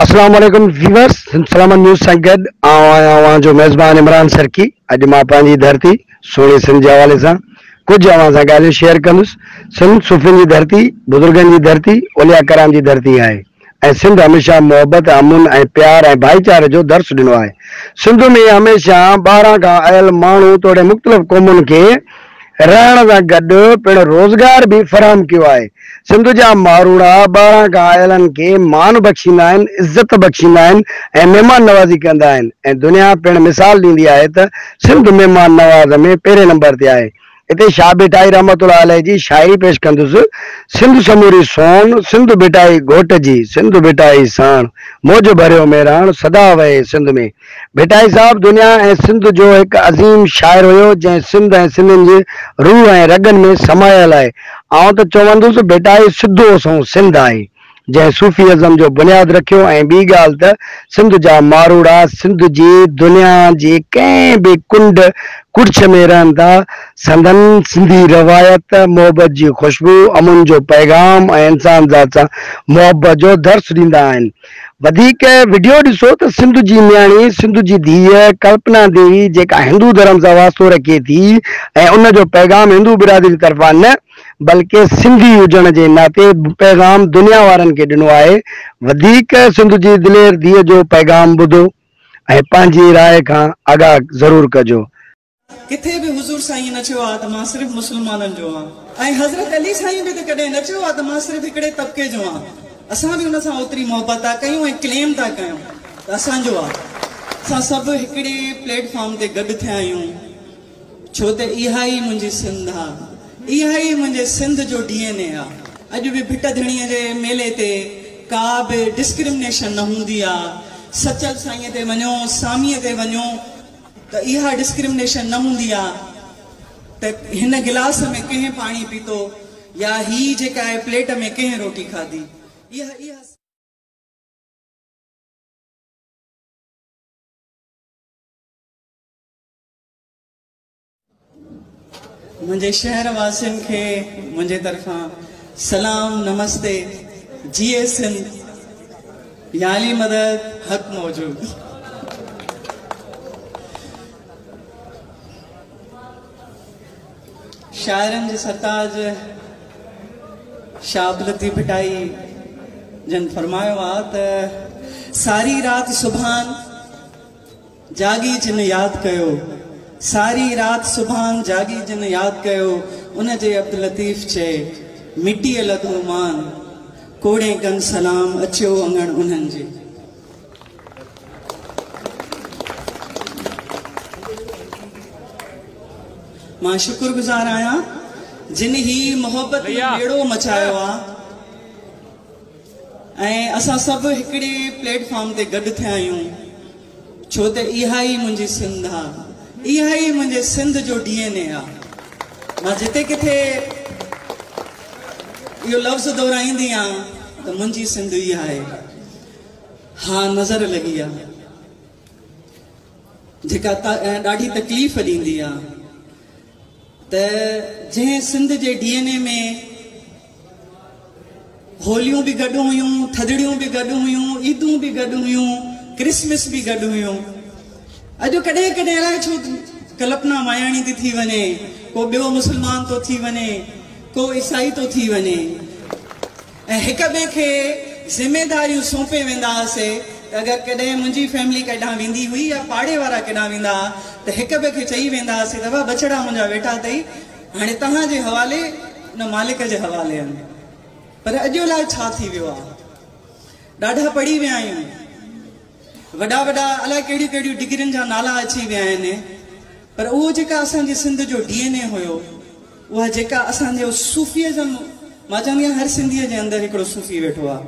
اسلام عليڪم viewers Salamat News سان گڏ آئون آهيان اوهان جو ميزبان عمران سرڪي اڄ مان پنهنجي ڌرتي سهڻي سنڌ جي حوالي سان ڪجهه اوهان سان ڳالهيون شيئر ڪندس سنڌ صوفين جي ڌرتي بزرگن جي ڌرتي اولياء ڪرام جي ڌرتي آهي ۽ سنڌ هميشه محبت امن ۽ پيار ۽ ڀائيچاري جو درس ڏنو آهي سنڌ ۾ هميشه ٻاهران کان آيل ماڻهو توڙي مختلف قومن کي رهڻ سان گڏ پڻ روزگار به فراهم ڪيو آهي. سنڌ جا ماروئڙا ٻاهران کان آيلن کي مان بخشيندا آهن، عزت بخشيندا آهن ۽ مهمان نوازي ڪندا آهن ۽ دنيا پڻ مثال ڏيندي آهي ته سنڌ مهمان نواز ۾ پهرين نمبر تي آهي. هتي شاهه ڀٽائي رحمة الله عليه جي شاعري پيش ڪندس، سنڌ سموري سونهن، سنڌ ڀٽائي گهوٽ جي، سنڌ ڀٽائي ساڻ، موج ڀريو ميراڻ، سدا وهي سنڌ ۾. ڀٽائي صاحب دنيا ۽ سنڌ جو هڪ عظيم شاعر هيو جنهن سنڌ ۽ سنڌين جي روح ۽ رڳن ۾ سمايل آهي. آئون ته چوندس ڀٽائي سڌو سنئون سنڌ آهي جنهن صوفي ازم جو بنياد رکيو ۽ ٻي ڳالهه ته سنڌ جا ماروئڙا سنڌ جي دنيا جي ڪنهن به ڪنڊ ڪڙڇ ۾ رهن ٿا سندن سنڌي روايت، محبت جي خوشبو، امن جو پيغام ۽ انسانذات سان محبت جو درس ڏيندا آهن. وڌيڪ وڊيو ڏسو ته سنڌو جي نياڻي سنڌو جي ڌيء ڪلپنا ديوي جيڪا هندو ڌرم سان واسطو رکي ٿي ۽ ان جو پيغام هندو برادري طرفان نه بلڪه سنڌي هجڻ جي ناتي پيغام دنيا وارن کي ڏنو آهي وڌيڪ سنڌو جي دلير ڌيء جو پيغام ٻڌو ۽ پنهنجي راء کان آگاهه ضرور ڪجو. ڪٿي به حضور سائين نه چيو آهي ته مان صرف مسلمانن جو آهيان ۽ حضرت علي سائين به ته ڪڏهن نه چيو آهي ته مان صرف هڪڙي طبقي جو آهيان اسان به ان سان اوتري محبت ٿا ڪيون ۽ ڪليم ٿا ڪيون ته اسان جو آهي. اسان سڀ هڪڙي پليٽ فارم تي گڏ ٿيا آهيون ڇو ته اها ئي منهنجي سنڌ آهي اها ئي منهنجي سنڌ جو ڊي اين اي آهي. اڄ به ڀٽ ڌڻي جي ميلي تي ڪا به ڊسڪرمنيشن نه هوندي آهي سچل سائين تي وڃو سامي تي وڃو. ته اها ڊسڪرمنيشن نه هوندي ها ته هن گلاس ۾ ڪنهن پاڻي پيتو يا هي جيڪا آهي پليٽ ۾ ڪنهن روٽي کاڌي اها منهنجي شهر واسين کي منهنجي طرفان سلام نمستي جي سنڌ يالي مدد حق موجود شاعرن جي سرتاج شاهه بلدي ڀٽائي جن فرمايو آ ته ساري رات سبحان جاڳي جن ياد ڪيو. ساري رات سڀان جاڳي جن ياد ڪيو ان جي عبداللطيف چئي مٽيء لڌو مان ڪوڙين ڪن سلام اچيو اڱڻ انهن جي. مان شڪر گذار آهيان جن هي محبت جو ٻيڙو مچايو آ ۽ اسان سڀ هڪڙي پليٽ فارم تي گڏ ٿيا آهيون. ڇو ته اها ئي منهنجي سنڌ آ، اها ئي منهنجي سنڌ جو ڊي اين اي آ. مان جتي ڪٿي اهو لفظ دهرائيندي آ ته منهنجي سنڌ اها آهي. ها نظر لڳي آ جيڪا ڏاڍي تڪليف ڏيندي آ ته جنهن سنڌ جي ڊي اين اي ۾ هوليون به گڏ هيون، ٿڌڙيون به گڏ هيون، عيدون به گڏ هيون، ڪرسمس به گڏ هيون. اڄ ڪڏهن ڪڏهن الائي ڇو ڪلپنا ماياڻي ٿي ٿي وڃي، ڪو ٻيو مسلمان ٿو ٿي وڃي، ڪو عيسائي ٿو ٿي وڃي ۽ هڪ ٻئي کي ذميداريون سونپي ويندا هئاسي ته اگر ڪڏهن منهنجي فيملي ڪيڏانهن ويندي هئي يا پاڙي وارا ڪيڏانهن ويندا ها ته هڪ ٻئي کي چئي ويندا هئاسي ته واهه بڇڙا منهنجا ويٺا اٿئي، هاڻي توهان جي حوالي نه مالڪ جي حوالي آهن پر اڄ الائي ڇا ٿي ويو آهي ڏاڍا پڙهي ويا آهيون وڏا وڏا الائي ڪهڙيون ڪهڙيون ڊگرين جا نالا اچي ويا آهن پر اهو جيڪا اسان جي سنڌ جو ڊي اين اي هيو اها جيڪا اسان جو صوفيزم مان چوندي آهيان هر سنڌي جي اندر هڪڙو صوفي ويٺو آهي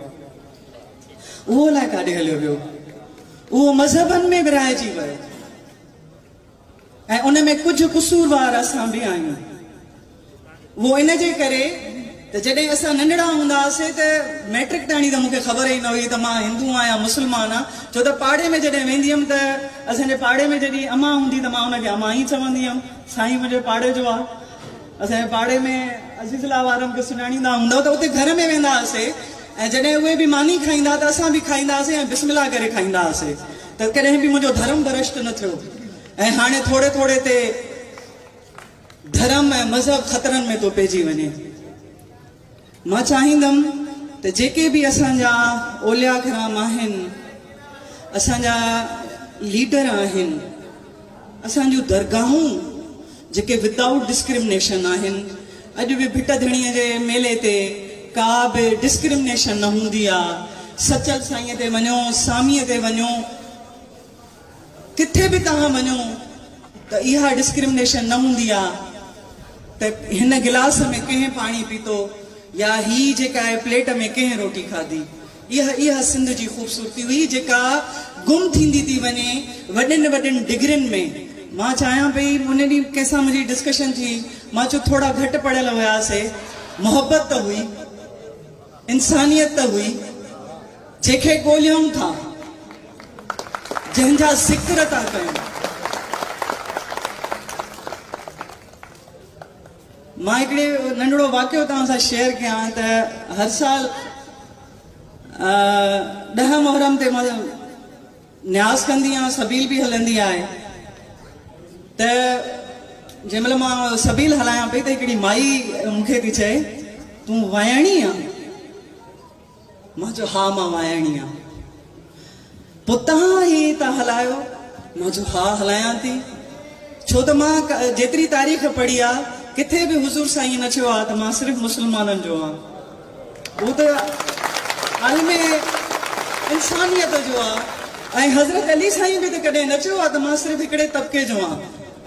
اهو الائي ڪاڏي هليو ويو اهو مذهبن ۾ ورهائجي ويو ۽ ان ۾ ڪجهه قصوروار اسان به آهيون. اهو ان جي ڪري ته جڏهن اسان ننڍڙا هوندا هئاسين ته مئٽرڪ تائڻي ته مون کي خبر ئي نه هئي ته مان هندو آهيان يا مسلمان آهيان ڇو ته پاڙي ۾ جڏهن ويندي هيم ته اسان جي پاڙي ۾ جڏهن امان هوندي ته مان ان کي امان ئي چوندي هيم سائين منهنجو پاڙي جو آهي. اسان جي پاڙي ۾ عزيز الله وارن کي سڃاڻيندا هوندؤ ته اتي گهر ۾ ويندا هئاسي ۽ جڏهن اهي به ماني کائيندا ته اسان به کائيندا هئاسي ۽ بسم الله ڪري کائيندا هئاسي ته ڪڏهن به منهنجو ڌرم ڀرشٽ نه ٿيو ۽ هاڻي ٿوري ٿوري تي ڌرم ۽ مذهب خطرن ۾ ٿو پئجي وڃي. مان چاهيندم ته جيڪي به اسان جا اولياء ڪرام آهن، اسان جا ليڊر آهن، اسان جون درگاهون جيڪي ود آئوٽ ڊسڪرمنيشن آهن، اڄ به ڀٽ ڌڻيء جي ميلي تي ڪا به ڊسڪرمنيشن نه هوندي آ، سچل سائينء تي وڃو، ساميء تي وڃو. ڪٿي به توهان وڃو ته اها ڊسڪرمنيشن نه هوندي آ ته هن گلاس ۾ ڪنهن پاڻي پيتو يا هي جيڪا آهي پليٽ ۾ ڪنهن روٽي کاڌي اها اها سنڌ جي خوبصورتي هئي جيڪا گم ٿيندي ٿي وڃي وڏين وڏين ڊگرين ۾ مان چاهيان پئي ان ڏينهن ڪنهن سان منهنجي ڊسڪشن ٿي مان چيو ٿورا گهٽ پڙهيل هياسي محبت ته هئي. انسانيت ته هئي جنهن کي ڳوليائون ٿا، جنهن جا ذڪر ٿا ڪيون. مان هڪڙي ننڍڙو واقعو توهان سان شيئر ڪيان ته هر سال ڏهه محرم تي مان نياز ڪندي آهيان سبيل به هلندي آهي ته جنهن مهل مان سبيل هلايان پئي ته هڪڙي مائي مون کي ٿي چئي تون وائڻي آن؟ مان چيو ها مان وائڻي آن پوء توهان هي ٿا هلايو؟ مان چيو ها هلايان ٿي ڇو ته مان جيتري تاريخ پڙهي آهي ڪٿي به حضور سائين نه چيو آهي ته مان صرف مسلمانن جو آن. هو ته عالم انسانيت جو آ ۽ حضرت علي سائين به ته ڪڏهن نه چيو آ ته مان صرف هڪڙي طبقي جو آهيان.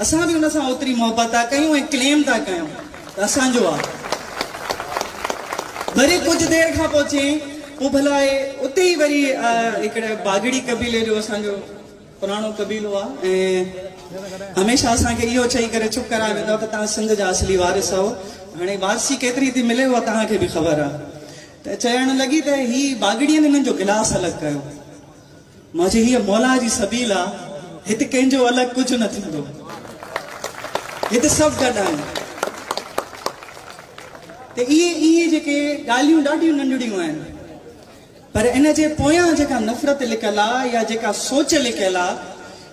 اسان به ان سان اوتري محبت ٿا ڪيون ۽ ڪليم ٿا ڪيون ته اسان جو آ. وري ڪجهه دير کان پوء چيائين پوء ڀلا اتي ئي وري هڪڙي باگڙي قبيلي جو اسان جو پراڻو قبيلو آ ۽ هميشه اسان کي اهو چئي ڪري چپ ڪرائي ويندا ته توهان سنڌ جا اصلي وارث آهو هاڻي وارثي ڪيتري ٿي ملي اها توهان کي به خبر آ ته چيڻ لڳي ته هي باگڙين هنن جو گلاس الڳ ڪيو مانجي هيء مولا جي سبيل آ هت ڪنهن جو الڳ ڪجهه نه ٿيندو هت سڀ گڏ آهيون ته اهي اهي جيڪي ڳالهيون ڏاڍيون ننڍڙيون آهن. پر ان جي پويان جيڪا نفرت لڪل آ يا جيڪا سوچ لڪيل آ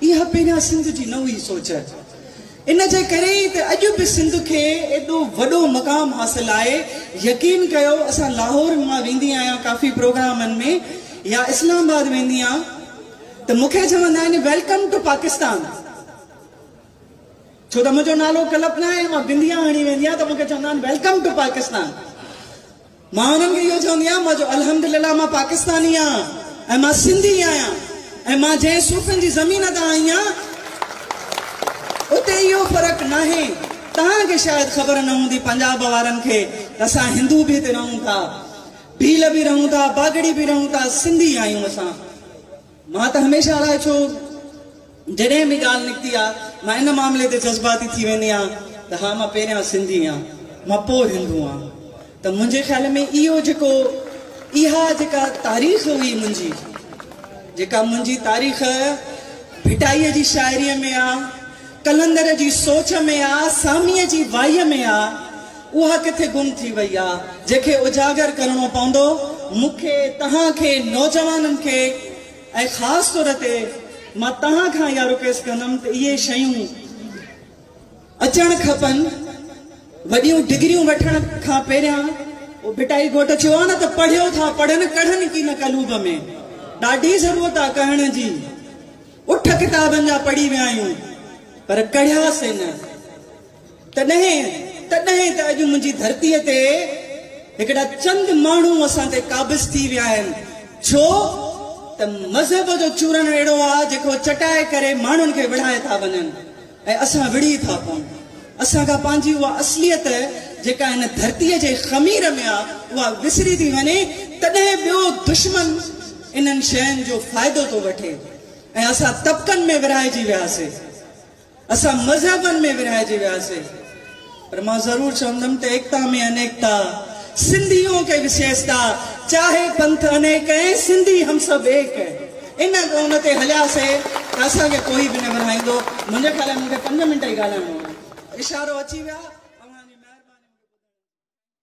اها پهريان سنڌ جي نه هئي سوچ ان جي ڪري ئي ته اڄ به سنڌ کي ايڏو وڏو مقام حاصل آهي يقين ڪيو اسان لاهور مان ويندي آهيان ڪافي پروگرامن ۾ يا اسلام آباد ويندي آن ته مون کي چوندا آهن ويلڪم ٽو پاڪستان ڇو ته منهنجو نالو ڪلپ ناهي مان بنديا هڻي ويندي آهيان ته مون کي چوندا آهن ويلڪم ٽو پاڪستان مان انهن کي اهو چوندي آهيان مان جو الحمدلله مان پاڪستاني آهيان ۽ مان سنڌي آهيان ۽ مان جنهن صوفين جي زمين تان آئي آهيان اتي اهو فرق ناهي توهان کي شايد خبر نه هوندي پنجاب وارن کي ته اسان هندو به هتي رهون ٿا ڀيل به رهون ٿا باگڙي به رهون ٿا سنڌي آهيون اسان. مان ته هميشه لاء ڇو جڏهن به ڳالهه نڪتي آ مان ان معاملي تي جذباتي ٿي ويندي آهيان ته ها مان پهريان سنڌي آهيان مان پوء هندو آهيان ته منهنجي خيال ۾ اهو جيڪو اها جيڪا تاريخ هئي منهنجي جيڪا منهنجي تاريخ ڀٽائي جي شاعري ۾ آ قلندر جي سوچ ۾ آ ساميء جي وائيء ۾ آ. اها ڪٿي گم ٿي وئي آ جنهن کي اجاگر ڪرڻو پوندو. مون کي، توهان کي، نوجوانن کي ۽ خاص طور تي مان توهان کان اها رڪويسٽ ڪندم ته اهي شيون اچڻ کپن. وڏيون ڊگريون وٺڻ کان پهريان اهو ڀٽائي گهوٽ چيو آ نه ته پڙهيو ٿا پڙهن ڪڙهن ڪي نه قلوب ۾، ڏاڍي ضرورت آ ڪهڻ جي. اٺ ڪتابن جا پڙهي ويا آهيون پر ڪڙهياسين نه. تڏهن تڏهن ته اڄ منهنجي ڌرتيء تي هڪڙا چند ماڻهو اسان تي قابض ٿي ويا آهن، ڇو ته مذهب جو چورڻ اهڙو آ جيڪو چٽائي ڪري ماڻهن کي وڙهائي ٿا وڃن ۽ اسان وڙهي ٿا پئون. اسان کان پنهنجي اها اصليت جيڪا هن ڌرتيء جي خمير ۾ آ اها وسري ٿي وڃي تڏهن ٻيو دشمن انهن شين جو فائدو ٿو وٺي ۽ اسان طبقن ۾ ورهائجي وياسي. اسان مذهبن ۾ ورهائجي وياسين پر مان ضرور چوندم ته ايڪتا ۾ انيڪتا، سنڌيون ڪي وسيستا، چاهي پنٿ انيڪ ۽ سنڌي هم سڀ ايڪ ۽ ان ڳون تي هلياسي ته اسان کي ڪوئي به نه ورهائيندو. منهنجي خيال ۾ مون کي پنج منٽ ئي ڳالهائڻو هو. اشارو اچي ويا. اوهان جي مهرباني مون کي ٻڌڻ جي.